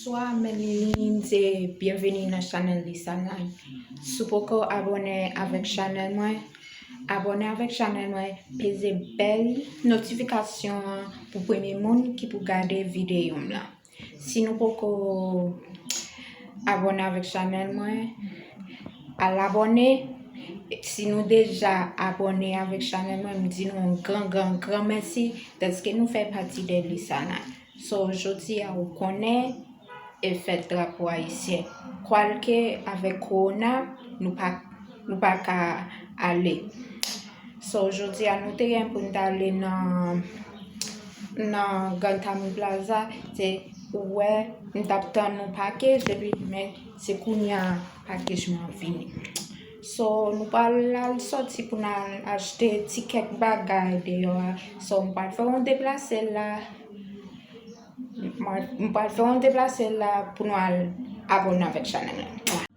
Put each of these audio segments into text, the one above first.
Bonswa mes linines e byenveni nan chanèl Lisa Lai Si w poko abòne avèk chanèl mwen abòne avèk chanèl mwen peze bèl notifikasyon an pou premye moun ki pou gade videyo m lan Si nou poko abone avèk chanèl mwen al abone si nou deja abone avèk chanèl mwen m di nou yon gran gran gran mèsi dèske nou fè pati de Lusana so jodi a ou konnen e fèt drapo ayisyen kwalke avèk korona nou pa Nou pa ka ale. So jodi a nou te gen pou n t ale nan Grand Cami Plaza, se ou wè m t ap tann yon pakej epi men se kounye a pakej lan vini. So nou pral al sòti pou n al achte ti kèk bagay deyò a. So m pral fè yon deplase la, m pral fè yon deplase la pou nou al abone avèk chanèl la.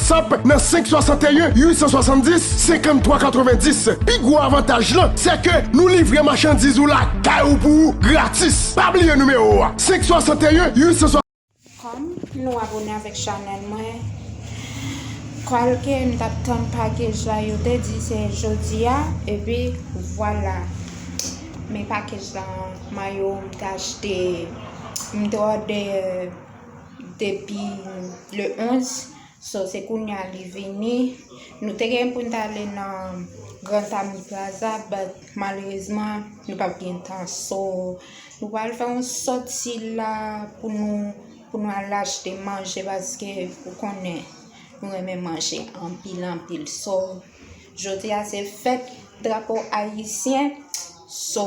Whatsapp nan 561 870 53 90. Pi gwo avantaj lan se ke nou livre machandiz ou lakay ou pou ou gratis. Pa bliye nimewo a 561 870. Kom nou abone avek chanel mwen kwalke m tap tann pakej la yo te di se jodia epi vwala men pakej la mayo m te achte m te ode. depi le 11 so se kounye a li vini nou te gen pou n ta ale nan Grand Ami Plaza but malerezman nou pa p gen tan so nou pral fè yon sòti la pou nou pou nou al achte manje paske ou konnen nou renmen manje anpil anpil so jodi a se fèt drapo ayisyen so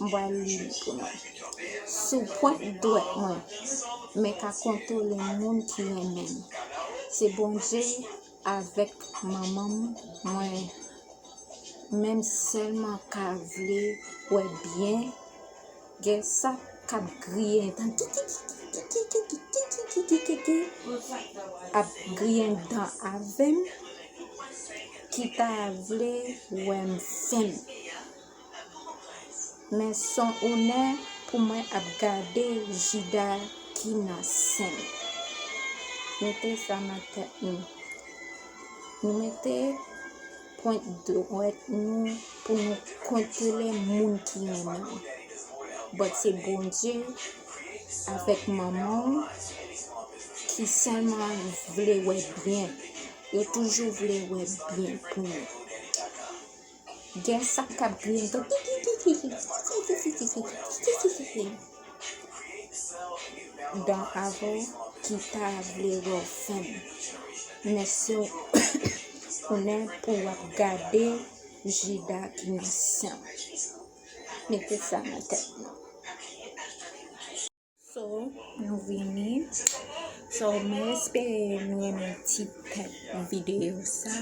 m pral li li pou nou. Sou pwent dwèt mwen, mwen ka kontole moun ki renmen m. Se Bondye avèk manman m mwen menm sèlman ka vle wè byen gen sa k ap griyen dan kikikikikikikikikikiki ap griyen dan avè m ki ta vle wè m fèm. Men son onè pou mwen ap gade jida ki nan sen. Mete sa nan tèt nou. Nou mete pwent dwèt nou pou nou kontwole moun ki renmen. Bòt se Bondye avèk manman ou ki sèlman vle wè byen. Yo toujou vle wè byen pou nou. Gen sak kap kriye tou kikikikikikikikikikikikikiki Dan avo ki pa vle wèw fèm Men siw konnen pou wap gade jida ki nan sanw Mete sa nan tèt nou. So nou vini So mwen espere nou renmen ti tèt videyo sa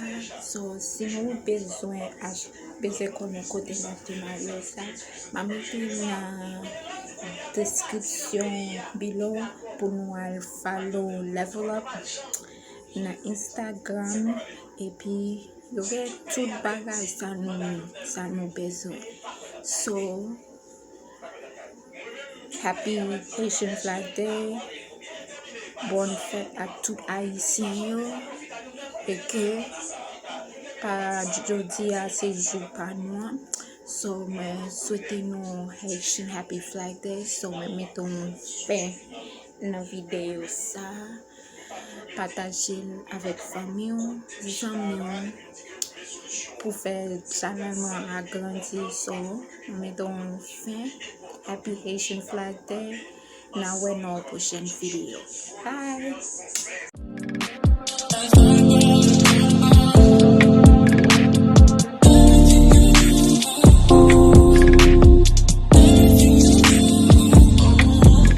So si nou bezwen ach bezwen konnen kote nou achte marye sa Map mete li nan deskripsyon below pou nou al follow level up nan Instagram epi yo gen tout bagay sa nou sa nou bezwen So Happy Haitian Flag Day Bòn fèt ak tout Ayisyen yo E ke pa jodi a se jou pa nou an So mwen swete nou Haitian Happy Flag Day So mwen mete yon fen nan videyo sa Pataje l avèk fanmi w, zanmi w, pou fè chanèl mwen an agrandi sou ou. M mete w yon fin. Happy Haitian Flag Day. N a wè nan yon pwochèn videyo. Bye!